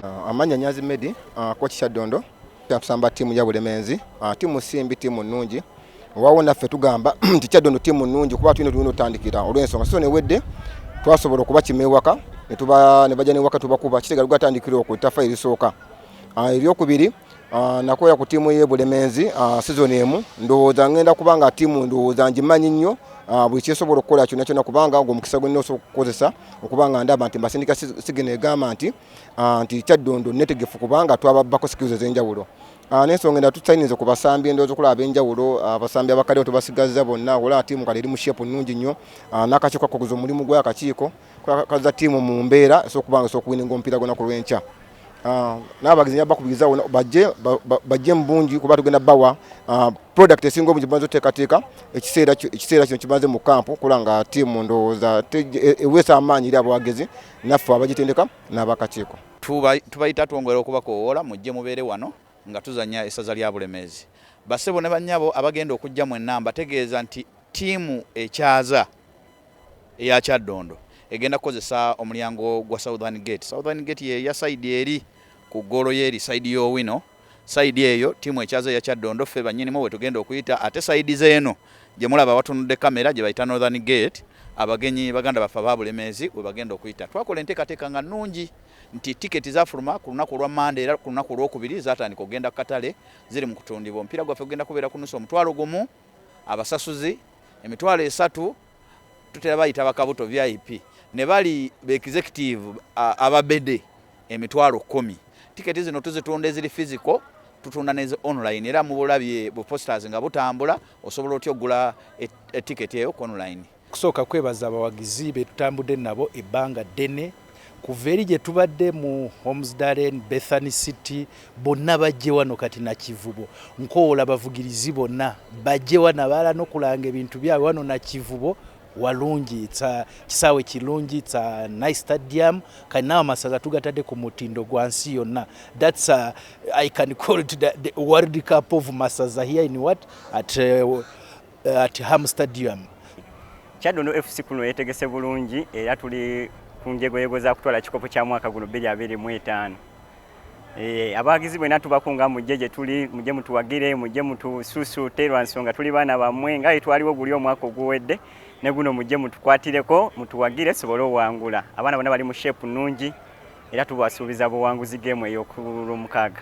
Uh, amanya nyazi medi uh, koki kya ddondo kyatusamba tiimu ya bulemenzi uh, tiimu simbi tiimu nnungi wawo naffe tugamba nti kyaddondo tiimu nnungi kuba tulina tulina otandikira olw'ensonga sisone wedde twasobola okuba kima ewaka ne bajja newaka tubakuba kitegala gatandikira oku ttafa erisooka Ah, ebyokubiri ah, nakoya ku tiimu ye bulemenzi ah, season emu ndowooza ngenda kubanga tiimu ndowooza ngimanyi nnyo buli kyesobola okukola kyona kyona kubanga ogwo omukisa gwenina osobola okukozesa okubanga ndaba nti mbasindika sigino egamba nti nti kyaddondo netegefu kubanga twababbako skills ezenjawulo nensonga enda tutayinza kubasambi endowooza okulaba abenjawulo abasambi abakadeo tubasigazza bonna wala tiimu kale eri mu shepu nnungi nnyo nakakiiko kakuguza omulimu gwakakiiko kaza tiimu mu mbeera esokubanga esokuwininga omupiira gwonaku lwenkya Ah, n'abagenzi nja bakubiriza wona bajje bajje mu bungi kuba tugenda bawa ah, product esinga obungi bamaze oteekateeka ekiseera ekiseera kino kimaze mu kampu kola nga tiimu ndowooza e, eweesa amaanyi eri abawagizi naffe abagitendeka n'abakakiiko tubayita twongera okubakowoola mujje mubeere wano nga tuzanya essaza lya bulemeezi basebo ne bannyabo abagenda okujja mwenna mbategeeza nti tiimu ekyaza eya Kyaddondo egenda kukozesa omulyango gwa Southern Gate. Southern Gate ye ya sayidi eri ku ggoolo y'eri sayidi y'Owino. Sayidi eyo ttiimu ekyaze eya Kyaddondo ffe bannyinimu bwe tugenda okuyita ate sayidi z'eno gye mulaba awatunudde kamera gye bayita Northern Gate abagenyi baganda baffe aba Bulemeezi we bagenda okuyita. Twakola enteekateeka nga nnungi nti tiketi zaafuluma ku lunaku olwa Mmande era ku lunaku olwokubiri zaatandika okugenda ku katale ziri mu kutundibwa. Omupiira gwaffe gugenda kubeera ku nnusu omutwalo gumu. Abasasuzi emitwalo esatu tutera bayita bakabuto vip ne bali be executive ababede emitwalo kumi. Tiketi zino tuzitunda eziri physical tutunda neze online era mubulabye bu posters nga butambula osobola otya okugula etiketi e eyo ku online. Kusooka kwebaza abawagizi be tutambudde nabo ebbanga ddene kuva eri gye tubadde mu Homsdalen, Bethany City, bonna bajje wano kati na Kivubo. Nkowoola abavugirizi bonna bajje wano abaala n'okulanga ebintu byabwe wano na Kivubo walungi it's a kisaawe kilungi it's a nice stadium kati naawe amasaza tugatadde ku mutindo gwa nsi yonna that's a, i can call it the, the world cup of masaza here in what at uh, uh, at Ham Stadium. Kyadondo FC kuno yetegese bulungi era tuli ku njegoyego za kutwala kikopo kya mwaka guno 2025. Eh, abawagizi bwena tubakunga mujje gye tuli mujje mutuwagire mujje mutususuute lwa nsonga tuli baana bammwe nga etwaliwo guli omwaka oguwedde ne guno mujje mutukwatireko mutuwagire sobole owangula abaana bona bali mu sheepu nnungi era tubasuubiza buwanguzi geemu ey'okulwomukaaga